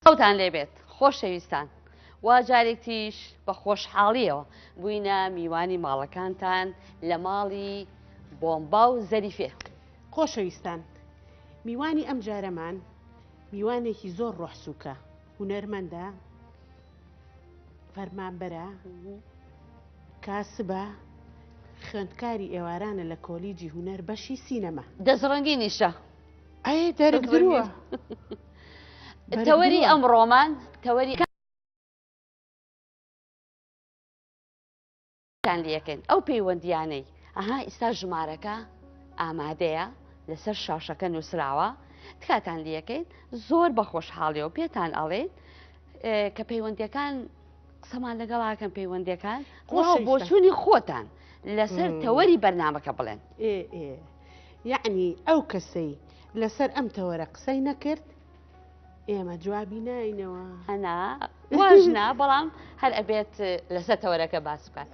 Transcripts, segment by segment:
سڵاوتان لێبێت خۆشەویستان وا جارێکیش بە خۆشحاڵیەوە بووینە میوانی ماڵەکانتان لە ماڵی بۆمبا و زەریفێ خۆشەویستان میوانی ئەم جارەمان میوانێکی زۆر ڕۆحسووکە هوەرمەندە فەرمانبەرە کاسبە خوێندکاری ئێوارانە لە کۆلیجی هوەر بەشی سینەما دەزڕەنگی نیشە تەوەری ئەم ڕۆمان تەوەری یەکەین ئەو پەیوەندیانەی ئەها ئیستا ژمارەکە ئامادەیە لەسەر شاشەکە نووسراوە تکاتان دیەکەین زۆر بە خۆشحاڵیەوە پێتان ئەڵێن کە پەیوەندەکان قسەمان لەگەڵاکەم پەیوەندەکان خۆ بۆچوونی خۆتان لەسەر تەوەری بەرنمەکە بڵێن یەعنی ئەو کەسەی لەسەر ئەم تەوەرە قسەی نەکرد ئێمە جوابی ناینەوە هەنا واژنا بەڵام هەر ئەبێت لەسە تەوەرەکە باس بکات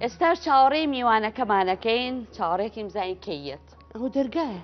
ئێستاش چاوەڕێ میوانەکەمانەکەین چاوەڕێکیم زای کەیت ئەو دەرگایە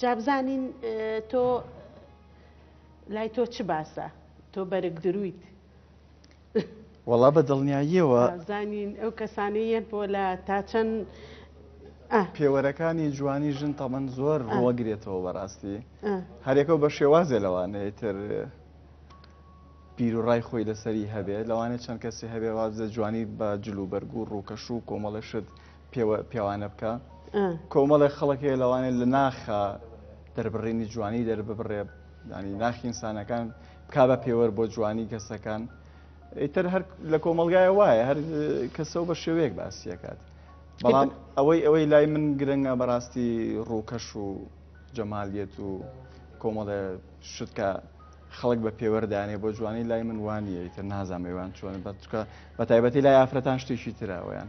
جا بزانین تۆ لای تۆ چ باسە تۆ بەرگ درویت. وەڵا بە دڵنیاییەوە. با بزانین ئەو کەسانەی یەن پۆلە تا چەند ئا. پێوەرەکانی جوانی ژن تەمەن زۆر ڕوەگرێتەوە بەڕاستی هەرێکەو بە شێوازێ لەوانەیە تر بیروڕای خۆی لەسەری هەبێ لەوانێ چەند کەسی هەبێ وابزە جوانی بە جلوبەرگ و ڕووکەش و کۆمەڵە شت پێوە پێوانە بکە کۆمەڵێ خەڵک هەیە لەوانێ لە ناخە دەربڕینی جوانی دەرببڕێ ینی ناخی ئینسانەکان بکا بە پێوەەر بۆ جوانی کەسەکان ئیتر هەر لە کۆمەلگای وایە هەر کەسەوە بە شێوەیەک باسیەکات بەڵام ئەوەی ئەوەی لای من گرنگە بەڕاستی ڕووکەش و جەمالیت و کۆمەڵێ شتکە خەڵک بە پێوەردانێ بۆ جوانی لای من وانە ئیتر نازانێوان چۆن بە چکە بە تایبەتی لای ئافرەتان شتێکی تراوەیان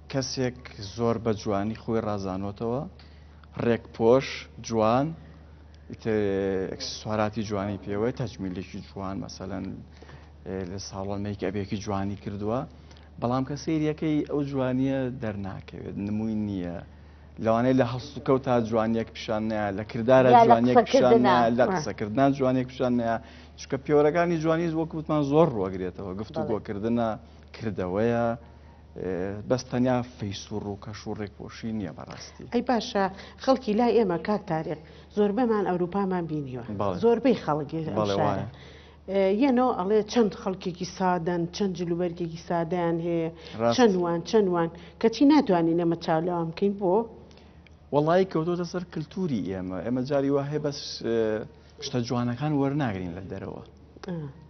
کەسێک زۆر بە جوانی خۆی ڕازانۆتەوە ڕێک پۆش جوان ئەکسسواراتی جوانی پێوەی تەجمیلێکی جوان مەسەەن لە ساڵۆنێکی ئەبێکی جوانی کردووە بەڵام کە سریەکەی ئەو جوانیە دەرناکەوێت نمووی نییە. لەوانەیە لە هەست و کەوت تا جوانیەک پیشان نایە لە کردارە جوانیەک پیشان لە قسەکردنا جوانێک پیشان نایە چکە پێوەەکانی جوانی وەکوتمان زۆر ڕوەگرێتەوە گفتوگۆکردە کردەوەیە بەس تەنیا فەیسوڕ و کەش و ڕێکپۆشی نییە بەڕاستی. ئەی باشە خەڵکی لای ئێمە کاک تاریق زۆربەمان ئەوروپامان بینیوە زۆربەی خەڵک یەنۆ ئەڵێ چەند خەڵکێکی سادەن چەند جلوبەرگێکی سادەیان هەیە چەندوان چەندوان کەچی ناتوانین نەمە چاولەوان بکەین بۆ وڵی کەوتۆتە سەر کللتوری ئێمە ئێمە جاری وهەیە بەس شتە جوانەکان وەرناگرین لە دەرەوە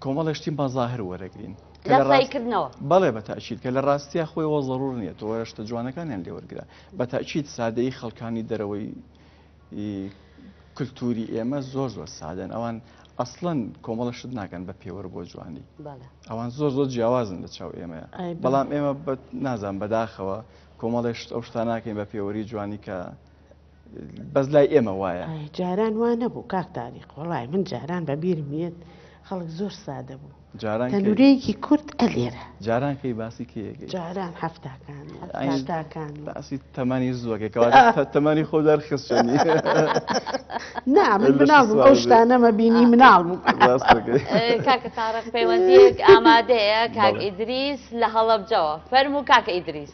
کۆمەڵە شتی بەظاهر وەرەگرین کردنەوە بەڵێ بە تاچیت کە لە ڕاستیا خۆی وە ضرور نیە تۆ شتە جوانەکانیان لێوەرگرا بە تاچیت سادەی خەڵکانی دەرەوەی کللتوری ئێمە زۆر زۆر سادەن ئەوان ئەسڵەن کۆمەڵە شت ناکەن بە پێوەر بۆ جوانی ئەوان زۆر زۆر جیاوازن لە چاو ئێمەیە بەڵام ئێمە نازان بەداخەوە کۆمەڵێشت ئەو شتانناکەین بە پێوەری جوانی کە بەس لای ئێمە وایە جاران وا نەبوو کاک تاریق وڵی من جاران بە بیرم یەت خەڵک زۆر سادە بوو جاران تەنورەیەکی کورت ئەلێرە جاران کەی باسی کەیەکە جاران هەفتاکان هەفتاکان باسی تەمانی زووەکەکەەوە تەمانی خۆدار خستنی نا من مناڵ بوو ئەو شتانەمە بینی مناڵ بوو کاکە تاڕق پەیوەندیەک ئامادەیە کاک ئیدریس لە هەڵەبجەوە فەرموو کاکە ئیدریس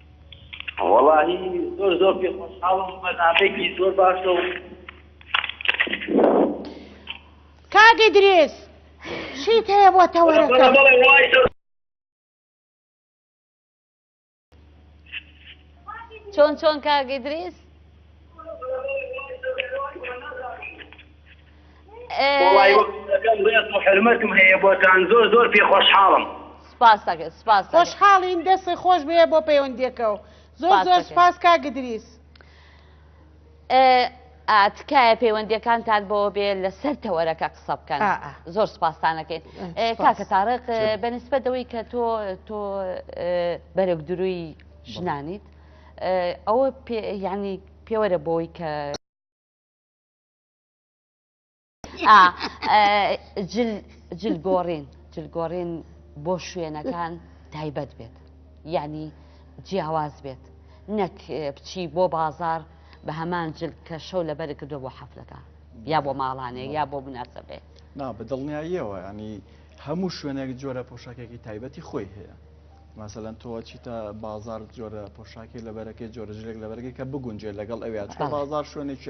وەڵاهی زۆر زۆر پێ خۆشحاڵم بەرنامەیەکی زۆر باشە و کاک ئیدریس شیت هەیە بۆ تەوەرەکە چۆن چۆن کاک ئیدریس حرمەتم هەیە بۆتان زۆر زۆر پێ خۆشحاڵم خۆشحاڵین دەستی خۆش بێ بۆ پەیوەندیەکە و زۆر زۆر سپاس کا گدریس تکایە پەیوەندەکانتان بۆ بێ لەسەر تەوەرەکە قسە بکەن زۆر سپاسانەکەین کاکە تاڕق بەنسبە دەوەی کە تۆ تۆ بەرەک دروی ژنانیت ئەوە ینی پێوەرە بۆی کە جلگۆڕین جلگۆڕین بۆ شوێنەکان تایبەت بێت یعنی جیاواز بێت نەک بچی بۆ بازار بە هەمان جل کە شەو لەبەر کردو بۆ حەفلەکە یا بۆ ماڵانێ یا بۆ بناسەبێ نا بە دڵنیاییەوە ینی هەموو شوێنێک جۆرە پۆشاکێکی تایبەتی خۆی هەیە مەسەلەن تۆ چیتە بازار جۆرە پۆشاکی لە بەرەکەی جۆرە جلێک لە بەرگی کە بگونجێت لەگەڵ ئەویا چۆ بازار شوێنێکی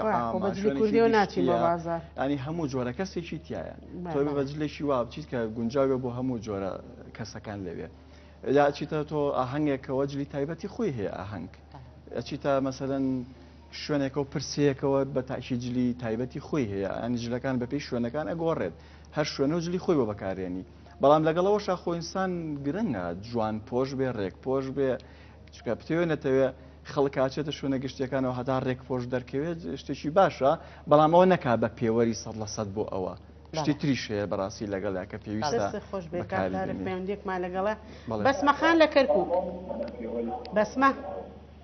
ئەنی هەموو جۆرە کەسێکی تایە تۆ بە جلێکی وا بچیت کە گونجاوێ بۆ هەموو جۆرە کەسەکان لەوێ یا چیتە تۆ ئاهەنگێکەوە جلی تایبەتی خۆی هەیە ئاهەنگ ئەچیتە مەسەن شوێنێکەوە پرسەیەکەوە بە تاکی جلی تایبەتی خۆی هەیە ئەنی جلەکان بەپی شوێنەکان ئەگۆڕێت هەر شوێنە و جلی خۆی بۆ بەکارێنی بەڵام لەگەڵ ئەوەشا خۆ ئینسان گرنگە جوان پۆش بێ ڕێک پۆش بێ چکە پتێوێ نەتەوێ خەڵکاچێتە شوێنە گشتیەکانەوە هەتا ڕێک پۆش دەرکەوێت شتێکی باشە بەڵام ئەوە نەکا بە پێوەری سە لە سەد بۆ ئەوە شتی تریش هەیە بەڕاستی لەگەڵ یاکە پێویستە خۆش بێکارێکمان لەگەڵە بەسمەخان لە کەرکک بەسمە.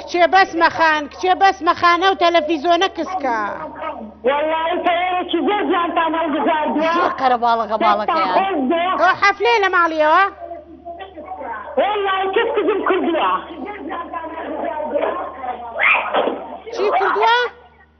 کچێ بەس مەخان کچێ بەس مەخانە و تەلەفیزۆنە کسکە. وەڵڵاهی تەوەرێکی زۆر جوانتان هەڵبژاردووە. زۆر قەرە باڵەکە باڵەکەیان. ئەوە حەفلەیە لە ماڵیەوە؟ وەڵڵاهی کەس کزم کردووە. چی کردووە؟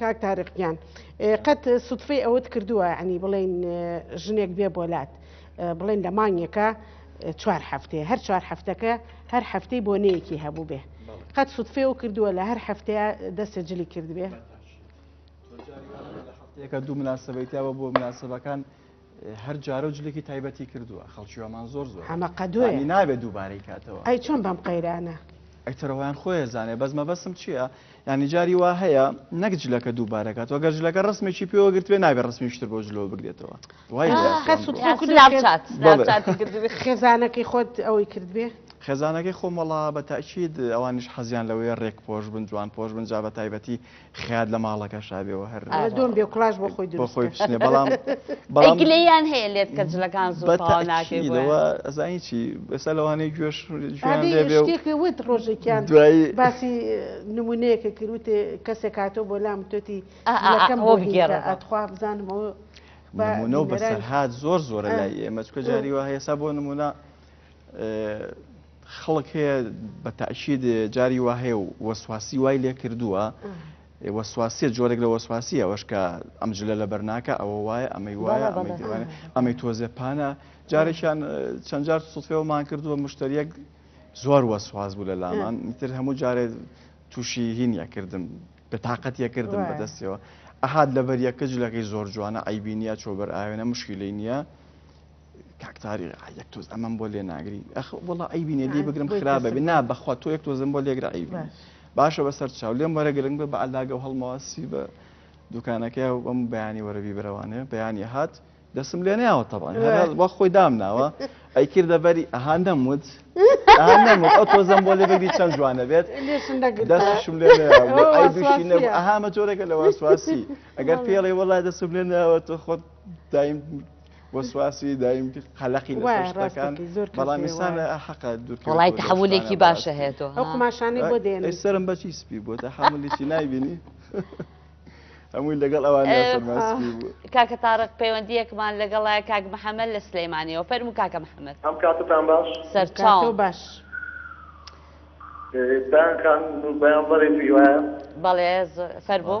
کاک تارقیان قەت سوتفەی ئەوەت کردووە عنی بڵێن ژنێک بێ بۆلات بڵێن لە مانگێکە چوار هەفتێ هەر چوار هەفتەکە هەر هەفتەی بۆنەیەکی هەبوو بێ قەت سوتفێ و کردووە لە هەر هەفتەیە دەستە جلی کردبێ. یەکە دوو مناسبەیتەوە بۆ مناسبەکان هەر جارە و جلێکی تایبەتی کردووە خەڵکی وامان زۆر زۆر ئەمە قەدوێ نابێت دووبارەی کاتەوە ئەی چۆن بەم قەیرانە ئەیتەرەوەیان خۆیە زانێ بەس مەبەسم چییە ینی جاری وا هەیە نەک جلەکە دووبارەکات وە گەرجلەکە ڕستمێکی پێوەگرتوێ نابێ ڕستمیشتر بۆ جلەوە بگرێتەوە خێزانەکەی خۆت ئەوەی کردبێ خێزانەکەی خۆمەڵا بە تاکیید ئەوانش حەزیان لەوەیە ڕێک پۆش بن جوان پۆش بن جا بە تایبەتی خیات لە ماڵەکە شابێەوە هەر دۆم بێ کولاش بۆ خۆی بۆ خۆی بشنێ بەڵام بەڵامگلیان هەیە لێت کە جلەکان زۆرەوە ئەزانی چی بەسە لەوانەیە گوێش وت ڕۆژێکیان دوایی باسی نمونەیەکە کروتێ کەسێک کاتۆ بۆ لام تۆتی ئەکەم بۆ بگێرە ئەتخوا بزانم بەسەرهات زۆر زۆرە لای ئێمە چکە جاری وە هەیەسا بۆ نمونە خەڵک هەیە بە تاکیید جاری وا هەیە و وەسواسی وای لێ کردووە وەسواسیە جۆرێک لە وەسواسی ئەوەش کە ئەم جلە لە بەرناکە ئەوە وایە ئەمەی وایە ئەمەی دیوانە ئەمەی تۆزێ پانە جارێکیان چەند جار سوفێوەمان کردووە مشتریەک زۆر وەسواز بوو لە لامان میتر هەموو جارێ تووشی هینە کردم بە تااقەت یە کردم بەدەستەوە ئەهات لەبەر یەکە جلەکەی زۆر جوانە ئەیبینە چۆبەر ئاوێنە مشکلی نییە کاک تاریق ئا یەک تۆز ئەمەم بۆ لێ ناگری ئەخ وەڵا عیبی نیە لێ ئا، بگرم بۆی خراپ کەسم بێ نا ناگری. بەخوا تۆ یەک تۆزم بۆ لێگرە عیب نیە باش باشە بەسەر چاو لێم وەرە گرنگ بە بە عەلاگە و هەڵمەوە سپی بە دوکانەکەیا و بەم بەیانی وەرە بیبەرەوانێ بەیانیە هات دەسم لێ نەیاوە تەبعەن هەر هەر باش وا خۆی دامناوە ئەی کردە بەری ئەها نەموت ئا نەموت ئەو تۆزەم بۆ لێ بگری چەن جوانە بێت لێشم نەگرتە دەستیشم لێ نەیاوە ئەوە بۆ عیبیشی نەبوو واسواسیە ئەها ئەمە جۆرێکە لە واسواسی ئەگەر بەڵێ پێڵێ وەڵا دەسم لێ نەیاوە تۆ خۆت دایم بۆ سواسی دایم کرد قەلەقی لەشتەکان بەڵام ئسان حەقە دوڵای تحولێکی باشە هێتەوە ئەو قماشانەی بۆ دێن سرم بەچی سپی بۆ تا حملێکی نایبینی هەمووی لەگەڵ ئەوان کاکە تاڕق پەیوەندیەکمان لەگەڵای کاک محەممەد لە سلەیمانەوە فەرمو کاکە محەممەد ئەم کاتتان باش سەرچاو باش. بەیان بەڵێ فەربوو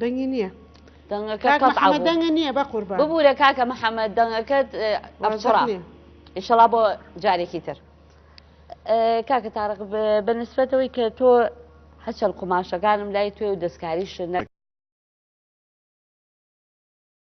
دەنگی نییە دەنگەکە دەنگە نییە بە قوربان ببوورە کاکە محەممەد دەنگەکەت ئەڕچڕا ئیشەڵا بۆ جارێکی تر کاکە تاڕق بە نسبەتەوەی کە تۆ هەچەند قوماشەکانم لای توێ و دەستکاریش نە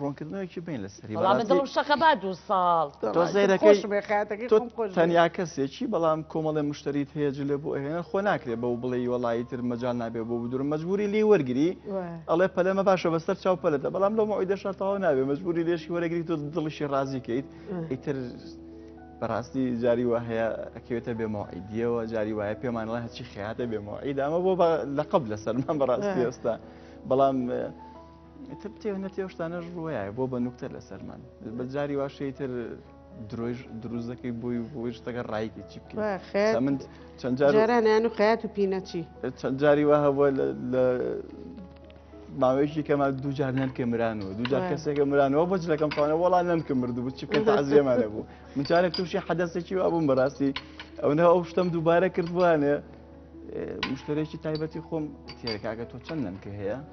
ڕۆنکردنەوەکی بین لە سەری دڵم شەقە با دوو ساڵ تەنیا کەسێکی بەڵام کۆمەڵێ مشتریت هەیە جلێ بۆ هێنە خۆ ناکرێت بەو بڵێ وڵی تر مەجان نابێ بۆ بدور مەجبوری لی وەرگری ئەڵێ پەلەمە باشە بەسەر چاو پەلەتە بەڵام لەو مەوەی دەشتەوە نابێ مەجبوری لێشی وەرەگری تۆ دڵیشی ڕازی کەیت ئیتر بەڕاستی جاری وە هەیە ئەکەوێتە بێمەوەعیدیەوە جاری وایە پێمانڵە هەچی خیاتە بێمەوەعید ئەمە بۆ لە قبل لەسەرمان بەڕاستی ئێستا بەڵام تر تێو نەتێو شتانەش ڕوایە بۆ بە نوکتە لەسەرمان بە جاری واشەی تر درۆژ دروست دەکەی بۆی بۆی شتەکە ڕایکی چی بکە من چەند جارانیان و خەیات و پینەچی چەند جاری وا هەبووە لە ماوەیەکی کەمان دوو جار نەنکە مران و دوو جار کەسێکە مرانەوە بە جلەکەم پانە وڵا نەنکە مردو بچی بکە تازیێمانە بوو من جارێک تووشی حەدەسێکی وا بووم بەڕاستی ئەو نە ئەو شتم دووبارە کردوانێ مشتێکی تایبەتی خۆم تێرەکگە تۆ چەند نەنکە هەیە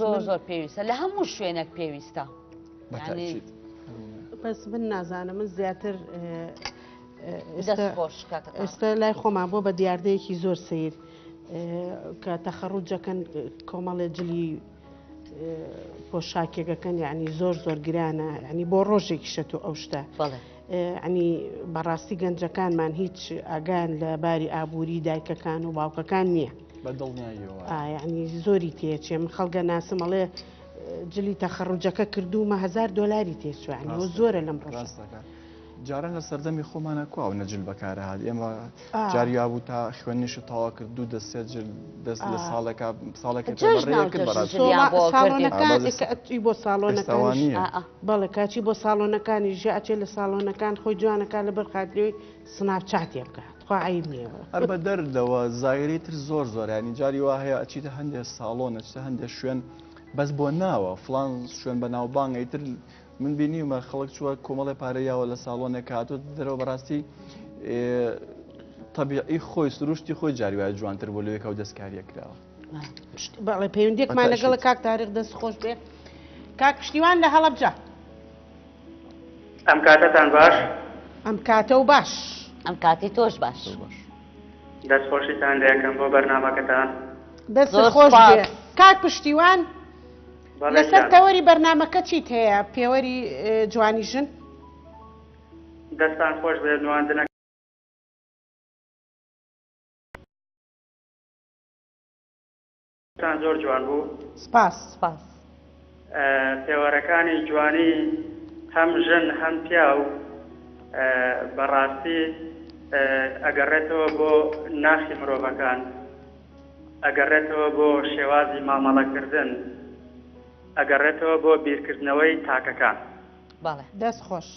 زۆر زۆر پێویستە لە هەموو شوێنێک پێویستە بەس من نازانم من زیاتر ئێستا لای خۆمان بۆ بە دیاردەیەکی زۆر سیر کە تەخەڕوجەکەن کۆمەڵێ جلی پۆشاکێکەکەن یعنی زۆر زۆر گرانە ینی بۆ ڕۆژێکی شە تو ئەو شتە ئەنی بەڕاستی گەنجەکانمان هیچ ئاگان لە باری ئابووری دایکەکان و باوکەکان نییە بەدڵنیایانی زۆری تێچێ من خەڵگە ناسمەڵێ جلی تەخەڕوجەکە کردوومە هزار دلاری تێچوانی و زۆرە لەم ڕاستەکە. جاران لە سەردەمی خۆمانە کو و نەجل بەکارە هاات ئێمە جاریا بوو تا خوێنیش و تاوا کرد دوو دەست سێ جل دەست لە ساڵێکا ساڵێکی بۆ ساڵۆنەکانی بۆ ساڵۆنەکانی بەڵێ کاچی بۆ ساڵۆنەکانی ژە ئەچێ لە ساڵۆنەکان خۆی جوانەکە لە بەر خاترەوەی سناپ چاتێ بکە تخوا عیب نییە هەر بە دەردەوە زایری تر زۆر زۆرانی جاری وا هەیە ئەچیتە هەندێ ساڵۆن ئەچتە هەندێ شوێن بەس بۆ ناوە فلان شوێن بە ناوبانگەی تر من بینیمە خەڵک چووە کۆمەڵی پارە یاوە لە ساڵۆنێک هاتوت دەرەوە بەڕاستی طبیعی خۆی سروشتی خۆی جاری وایە جوانتر بۆ لەوێکەوە دەستکاریە کراوە بەڵێ پەیوەندێکمان لەگەڵ کاک تاریخ دەست خۆش بێ کاک پشتیوان لە هەڵەبجە ئەم کاتەتان باش ئەم کاتە و باش ئەم کاتی تۆش باش دەست خۆشیتان لەکەم بۆ بەرنمەکەتان دەست خۆش کاک پشتیوان لەسەر تەوەری بەرنمەکە چیت هەیە پێوەری جوانی ژن دەستان خۆش بێ نواندنە تان زۆر جوان بوو سپاس. سپاس. پێوەرەکانی جوانی هەم ژن هەم پیاو بەڕاستی ئەگەڕێتەوە بۆ ناخی مرۆڤەکان ئەگەڕێتەوە بۆ شێوازی مامەڵە کردن ئەگەڕێتەوە بۆ بیرکردنەوەی تاکەکان. بەڵێ دەست خۆش.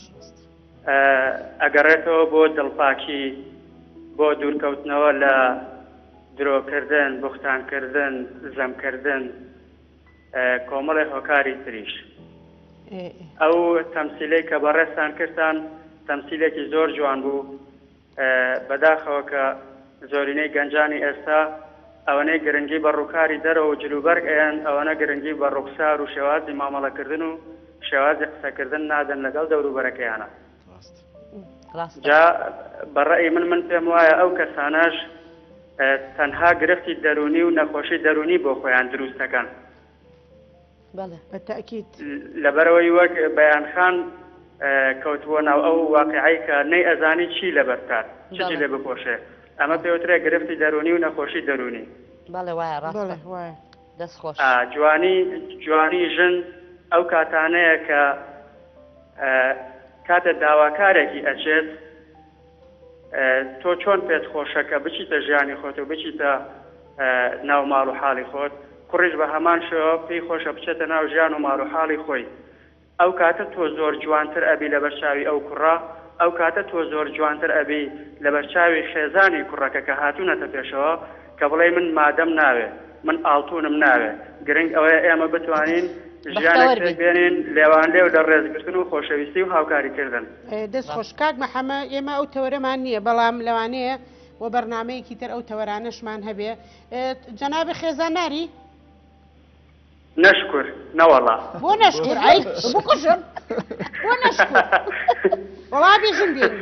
ئەگەڕێتەوە بۆ دڵپاکی، بۆ دوورکەوتنەوە لە درۆکردن، بوختانکردن، زەمکردن، کۆمەڵێ هۆکاری تریش. ئەو تەمسیلەی کە بەڕێزتان کردتان تەمسیلێکی زۆر جوان بوو، بەداخەوە کە زۆرینەی گەنجانی ئێستا ئەوەنەی گرنگی بە ڕووکاری دەرەوە و جلوبەرگ ئەیەن، ئەوەنە گرنگی بە ڕووخسار و شێوازی مامەڵەکردن و شێوازی قسەکردن نادەن لەگەڵ دەوروبەرەکەیانا. جا بە ڕەئی من، من پێم وایە ئەو کەسانەش تەنها گرفتی دەروونی و نەخۆشی دەروونی بۆ خۆیان دروست دەکەن. لەبەرەوەی وەک بەیان خان کەوتبووە ناو ئەو واقیعەی کە نەی ئەزانی چی لەبەر بکات چی لێ بپۆشێ ئەمە پێ وترێ گرفتی دەروونی و نەخۆشی دەروونی جوانی جوانی ژن ئەو کاتانەیە کە کاتێ داواکارێکی ئەچێت تۆ چۆن پێت خۆشە کە بچیتە ژیانی خۆت و بچیتە ناو ماڵ و حاڵی خۆت، کوڕیش بە هەمان شێوە پێی خۆشە بچێتە ناو ژیان و ماڵ و حاڵی خۆی. ئەو کاتە تۆ زۆر جوانتر ئەبی لەبەر چاوی ئەو کوڕە، ئەو کاتە تۆ زۆر جوانتر ئەبی لەبەر چاوی خێزانی کوڕەکە کە هاتوونەتە پێشەوە. کە بڵێی من مادەم ناوێ، من ئاڵتوونم ناوێ، گرنگ ئەوەیە ئێمە بتوانین ژیانێک بەختەوەر بین. پێکبێنین لێوانلێو لە ڕێزگرتن و خۆشەویستی و هاوکاریکردن. دەست خۆش کاک محەمە، ئێمە ئەو تەوەرەمان نییە، بەڵام لەوانەیە بۆ بەرنامەیەکی تر ئەو تەوەرانەشمان هەبێ. جەنابی خێزان ناری؟ نەشکور، نەوەڵا. بۆ نەشکور؟ ئەی بکوژم بۆ نەشکور؟ وەڵا بیژن بێنی.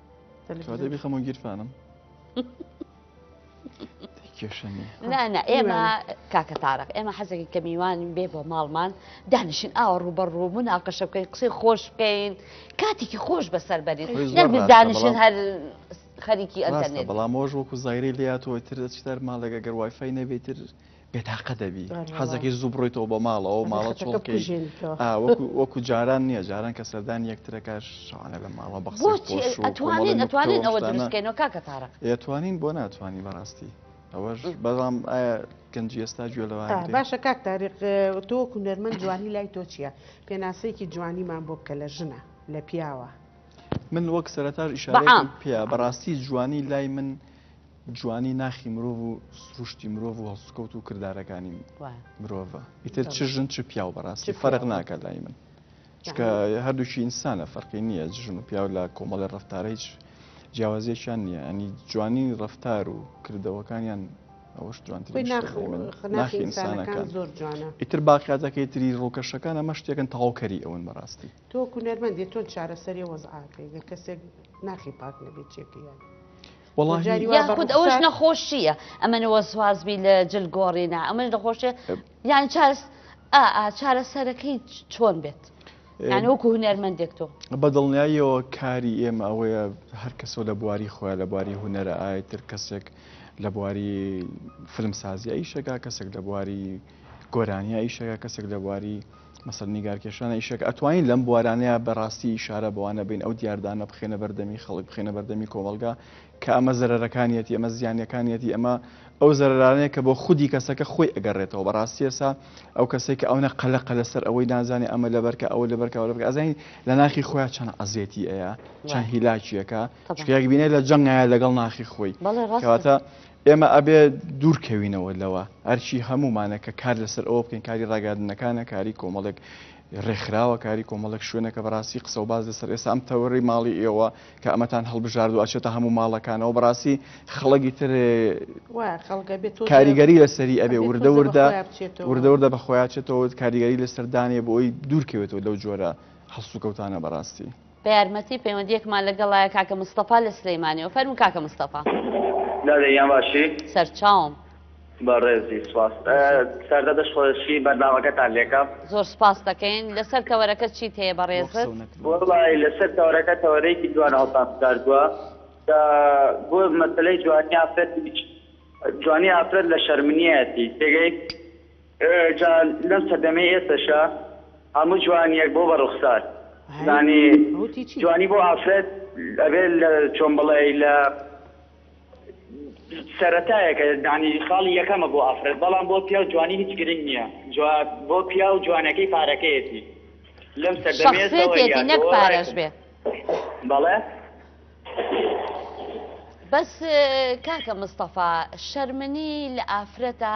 خەمۆ گیرفانم نانا ئێمە کاکە تارق ئێمە حەزەکە کە میوانی بێ بۆ ماڵمان دانیشین ئاوە ڕوبەر ڕوو من ئاقەشە بکەین قسەی خۆش بکەین کاتێکی خۆش بەسەر بەرین دانیشن هەر خەریکی ئەنتەرنێت بەڵام مۆژ وەکو زایری لاتەوە تر دەچتەر ماڵێک ئەگەر وایفای نەبێتتر بێتاقە دەبی حەزەکەی زوو بڕۆیتەوە بە ماڵەوە ماڵە چۆڵکەی وەکو جاران نییە جاران کە سەردان یەکترەکە شانە لە ماڵە بەخسیتوانین ئەتوانین ئەوە دروستکەینەوە کاکە تاڕە ئەتوانین بۆ ناتوانانی بەڕاستی ئەوەش بەڵام ئایا گەنجی ئێستا گوێ لەوان باشە کاک تاریق تۆ کوونەرمەند جوانی لای تۆ چییە پێناسەیەکی جوانیمان بۆ بکە لە ژنە لە پیاوە من وەک سەرتاش ئیشارە پێ بەڕاستی جوانی لای من جوانی ناخی مرۆڤ و سروشتی مرۆڤ و هەڵسوکەوت و کردارەکانی مرۆڤە ئیتر چ ژن چ پیاو بەڕاستی فەرق ناکە لای من چکە هەردووکی ئینسانە فەرقی نییە ژن و پیاو لە کۆمەڵی ڕفتارە هیچ جیاوازیەکیان نییە ئەنی جوانی ڕفتار و کردەوەکانیان ئەوش جوانترناخیسانەکان زۆر جوانە ئیتر باقیاتەکەی تری ڕووکەشەکان ئەمە شتێکن تەواوکەری ئەوەن بەڕاستی تۆ کونەرمەندی تۆ چارەسەری وەزعاکەی گە کەسێک ناخی پاک نەبێت چێکیان یاخود ئەوش نەخۆشیە ئەمەەوە سوازبی لە جل گۆڕینا ئەمەش نەخۆشیە یان چاس چارە سەرەکەی چۆن بێت وەکو هوەرمەندێک تۆ بە دڵنیاییەوە کاری ئێمە ئەوەیە هەر کەسەوە لە بواری خۆە لە بواری هوەرە ئاەتر کەسێک لە بواری فلمسازی ئەیشەکە کەسێک لە بواری گۆرانیا ئیشەکە کەسێک لە بواری مەسەل نیگارکێشانە ئیشێک ئەتوانین لەم بوارانەیە بەڕاستی ئشارە بەوانە بین ئەو دیاردانە بخێنە بەردەمی خەڵک بخێنە بەردەمی کۆمەلگا کە ئەمە زەرەکانیەتی ئەمە زیانەکانیەتی ئەمە ئەو زەرانەیە کە بۆ خودی کەسەکە خۆی ئەگەڕێتەوە بەڕاستیەسا ئەو کەسێک کە ئەوە قەلەقە لەسەر ئەوەی نازانێت ئەمە لەبەرکە ئەوە لەبەرکەوە لەبەر ئەزین لە ناخی خۆیان چەند عزیێتی ئەیە چەند هیلاکیەکە شکێک بینێت لە جەنگایە لەگەڵ ناخی خۆی کەواتە ئێمە ئەبێ دوورکەوینەوە لەوە ئەرکی هەمومانە کە کار لەسەر ئەوە بکەین کاری ڕاگەاندنەکانە کاری کۆمەڵێک ڕێکخراوە کاری کۆمەڵک شوێنەکە بەڕاستی قسە و باز لەسەر ئێستا ئەم تەوەڕی ماڵی ئێوە کە ئەمەتان هەڵبژارد و ئەچێتە هەموو ماڵەکانەوە بەڕاستی خەڵکی تر کاریگەری لەسەری ئەبێ وردە وردە وردە وردە بە خۆیاچێتەوە کاریگەری لەسەردانێ بۆی دوورکەوێتەوە لەو جۆرە هەڵسوکەوتانە بەڕاستی. بە یارمەتی پەیوەندیەکمان لەگەڵایە کاکە مستەفا لە سلیمانیەوە فەرمو کاکە مستەفا. دادە گیان باشی؟ سەرچاوم. بەڕێزی سوپاس سەردە دەشخۆشی بەرنامەکەتان لێکەم. زۆر سوپاستەکەین، لەسەر تەوەرەکە چیت هەیە بەڕێزت؟ وەڵای لەسەر تەوەرەکە تەوەرەیەکی جوان هەڵتان بژاردوە کە بۆ مەسەلەی جوانی ئافرەت جوانی ئافرەت لە شەرمنیەتی تێگەی؟ جا لەم سەردەمەی ئێستەشا هەموو جوانیەک بۆ بە ڕوخسار زانی جوانی بۆ ئافرەت ئەبێ لە چۆن بڵێ لە سەرەتایەکە دانی خاڵی یەکەمە بۆ ئافرەت بەڵام بۆ پیاو جوانی هیچ گرنگ نییە جواب بۆ پیاو جوانەکەی پارەکەیەتی لەم سەردەمێتی نەک پارەش بێ بەڵێ بەس کاکە مستەفا شەرمنی لە ئافرەتە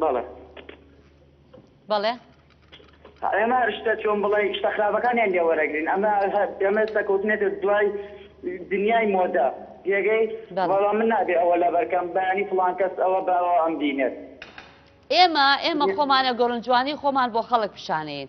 بەڵێ بەڵێ ئێمە شتە چۆن بڵێ شتە خراپەکانیان لێ وەرەگرین ئەمە ئێمە سەکەوتنێتە دوای دنیای مۆدە جێگەی بەڵام من نابێ ئەوە لەبەرکەم بەیانی فلان کەس ئەوە بەەوە ئەم دینێت ئێمە ئێمە خۆمانە گۆرنجوانی خۆمان بۆ خەڵک پیشانەیەین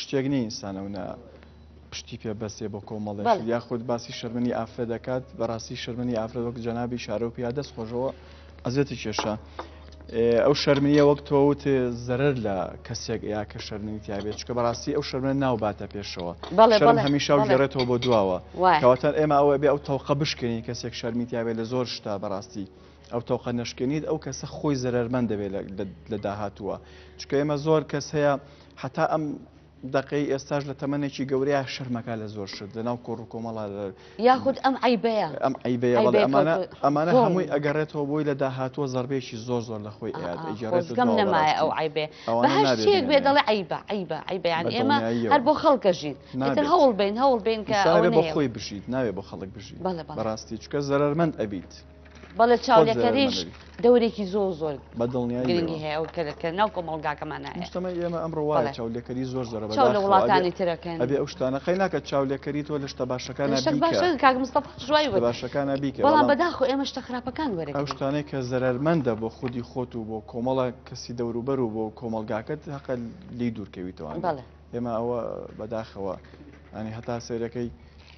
شتێک نیە ئینسان ئەو نە پشتی پێ بەسێ بۆ کۆمەڵێک بەڵێ. یاخود باسی شەرمنی ئافرەت دەکات بەڕاستی شەرمنی ئافرەت وەک جەنابی شارە و پیا دەست خۆشەوە ئەزێتی کێشە ئێ، ئەو شەرمنیە وەک تۆوت زەرەر لە کەسێک یا کە شەرمنی تیاابێت چکە بەڕاستی ئەو شەرمنە ناوباتە پێشەوە بەڵێ، شەرم بەڵێ، هەمیشە و بەڵێ. گێڕێتەوە بۆ دواوە وایە. کەواتە ئێمە ئەوە بێ ئەو تەوقە بشکێنین کەسێک شەرمی تیاابێت لە زۆر شتا بەڕاستی ئەو تەوقە نەشکێنیت ئەو کەسە خۆی زەرمەند دەبێت لە- لە- لە داهاتووە چکە ئێمە زۆر کەس هەیە هەتا ئەم دەقەی ئێستاش لە تەمەنێکی گەورەیە شەرمەکە لە زۆر شت لەناو کۆڕ و کۆمەڵە یاخود ئەم عیبەیە ئەم عیبەیە بەڵێ ئەمانە ئەمانە هەمووی ئەگەڕێتەوە بۆی لە داهاتووە زەربێکی زۆر زۆر لە خۆی ئەگەڕێتگەم نەمایە ئەو عیبێ بەهشتێک بێ دەڵێ عیبە عیبە عیبیان ئێمە هەر بۆ خەڵکە ژین ناتر هەوڵ بین هەوڵ بین کە بۆ خۆی بژیت ناوێ بۆ خەڵک بژیت بەڕاستی چکە زەرمەند ئەبیت بەڵێ چاولێکەریش دەورێکی زۆر زۆر بەدڵنیایگرنگی هەیە ئەو کە ناو کۆمەڵگاکەمانە شتەمە ئێمە ئەم ڕواڵە چاولێکەری زۆر زۆر لە وڵاتانی ترەکەن ئەبێ ئەو شتانە قەی ناکە چاولێکەری تۆ لە شتە باشەکان باشەکانە باشەکانە بیکە بەڵام بەداخۆ ئێمە شتە خراپەکان وەرە ئەو شتانەی کە زەرمەندە بۆ خودی خۆت و بۆ کۆمەڵە کەسی دەوروبەر و بۆ کۆمەلگاکەت هەقە لی دوورکەویتەوە ئێمە ئەوە بەداخەوە ئەنی هەتا سێرەکەی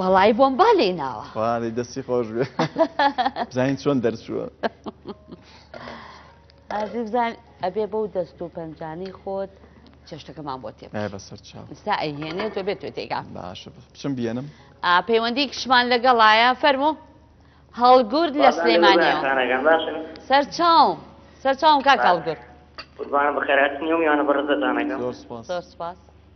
وەڵی بۆم با لێ ناوە وانەی دەستی خۆش بێ بزانین چۆن دەرچووە ئازی بزان ئەبێ بەو دەست و پەنجانی خۆت چێشتەکەمان بۆ تێ بەسەر چاوستا ئەهێنێت تۆ بێت تێگا باشە بچم بێنم پەیوەندی کشمان لەگەڵایە فەرمو هەڵگورد لە سلێمانە سەر چاو سەر چاوم کاک هەڵگورد قوربانە بەخێراتنیەوە میوانە بەڕزەتانەکە زۆر سپاس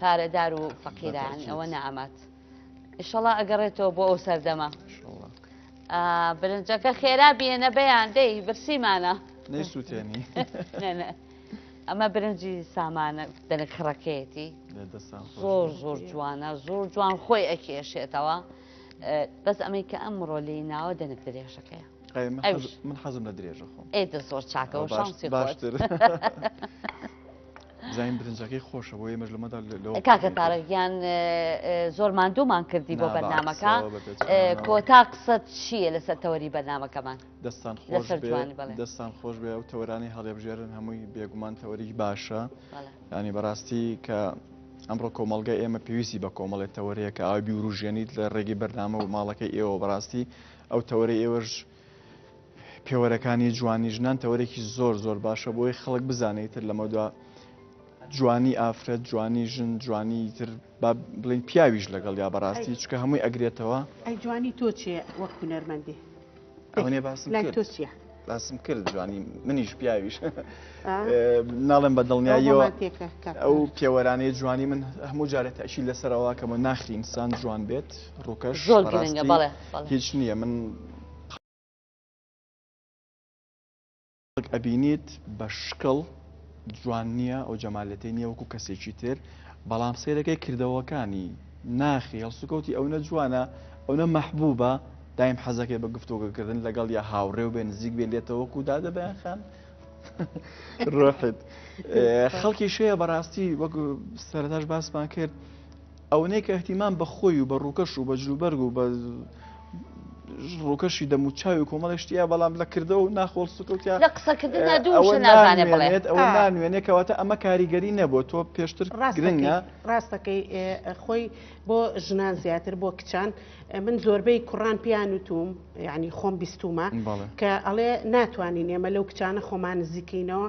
پارەدار و فەقیران ئەوە نامات ئیشەڵا ئەگەڕێتەوە بۆ ئەو سەردەمە برنجەکە خێرا بێنە بەیان دەی برسیمانە نەیسووتێنی ئەمە برنجی سامانە دەنک خڕەکەیەتی زۆر زۆر جوانە زۆر جوان خۆی ئەکێشێتەوە بەس ئەمەی کە ئەم ڕۆلی ناوە دەنک درێژەکەیە من حەزم لە درێژە خۆم ئێدە زۆر چاکەەوە شانسی باشتر. زین برنجەکەی خۆشە بۆ ئێمەش لەمەدا کاکە تارەگیان زۆر ماندوومان کردی بۆ بەرنمەکە کۆتا قسەت چییە لەسەر تەوەری بەرنمەکەمان دەستان خۆش دەستان خۆش بێ و تەورانی هەڵێبژێرن هەمووی بێگومان تەوەری باشە ینی بەڕاستی کە ئەمڕۆ کۆمەلگە ئێمە پێویستی بە کۆمەڵێت تەوەرەیە کە ئاوی وروژێنیت لە ڕێگەی بەرنامە و ماڵەکەی ئێوە بەڕاستی ئەو تەوەری ئێوەش پێوەرەکانی جوانی ژنان تەوەرێکی زۆر زۆر باشە بۆی خەڵک بزانێت تر لەمەدا جوانی ئافرەت جوانی ژن جوانی تر بڵین پیاویش لەگەڵ یا بەڕاستی چکە هەمووی ئەگرێتەوە ئەی جوانی تۆ چێ وەک هوەرمەندێ ئەوێ باسم لای تۆ چیە؟ باسم کرد جوانی منیش پیاویش ناڵێن بە دڵنیاییەوە ئەو پێوەرانەی جوانی من هەموو جارێت ئەشی لەسەرەوە کەمە ناخینسان جوان بێت ڕووکەش زۆر گرنگە بەڵێ هیچ نیە من خەڵک ئەبینیت بە شکڵ جوان نییە ئەو جەمالەتەی نییە وەکو کەسێکی تر بەڵام سیرەکەی کردەوەکانی ناخی هەڵسوکەوتی ئەو نە جوانە ئەو نە مەحبوبە دایم حەزەکەی بە گفتۆگەکردن لەگەڵ یا هاوڕێ و بێ نزیک بێ لێتەوەکو دادە بەیان خان ڕۆحت خەڵکی شەیە بەڕاستی وەک سەرتاش باسمان کرد ئەونەی کە ئیهتیمام بە خۆی و بە ڕووکەش و بە جلوبەرگ و بە ڕووکەشی دەم و چاوی کۆمەڵی شتیە بەڵام لە کردەوە و ناخۆڵ سکوتیا لە قسەکردندا دوو ئەوە شە نازانێ بڵێ نانوێنێت ئەوە آه. نانوێنێ کەواتە ئەمە کاریگەری نەبووە تۆ پێشتر ڕاستەکەی گرنگە ڕاستەکەی ئێ، خۆی بۆ ژنان زیاتر بۆ کچان ئێ، من زۆربەی کوڕان پیان وتوم یعنی خۆم بیستومە بەڵێ. کە ئەڵێ ناتوانین ئێمە لەو کچانە خۆمان نزیکەینەوە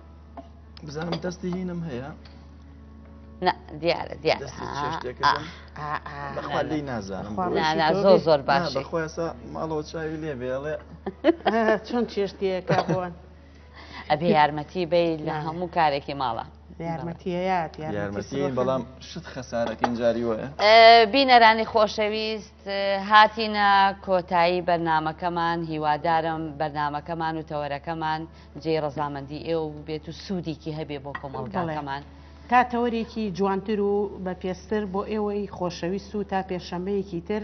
بزانم دەستی هینم هەیە دیارە دیارە بەخوالی نازانم زۆر زۆر باش بەخواسە ماڵەوە چاوی لێ بێڵێ چۆن چێشتیەکە بوون ئەبێ یارمەتی بی لە هەموو کارێکی ماڵە یارمەتیەت بەڵام شت خەسارەکەین جاری وە بینەرانی خۆشەویست هاتینە کۆتایی بەرنمەکەمان هیوادارم بەرنمەکەمان و تەوەرەکەمان جێ ڕزامەندی ئێوە ببێت و سوودێکی هەبێ بۆ کۆمەڵگەڵەکەمان. تا تەوەرێکی جوانتر و بە پێستر بۆ ئێوەی خۆشەویست و تا پێشەمەیەکی تر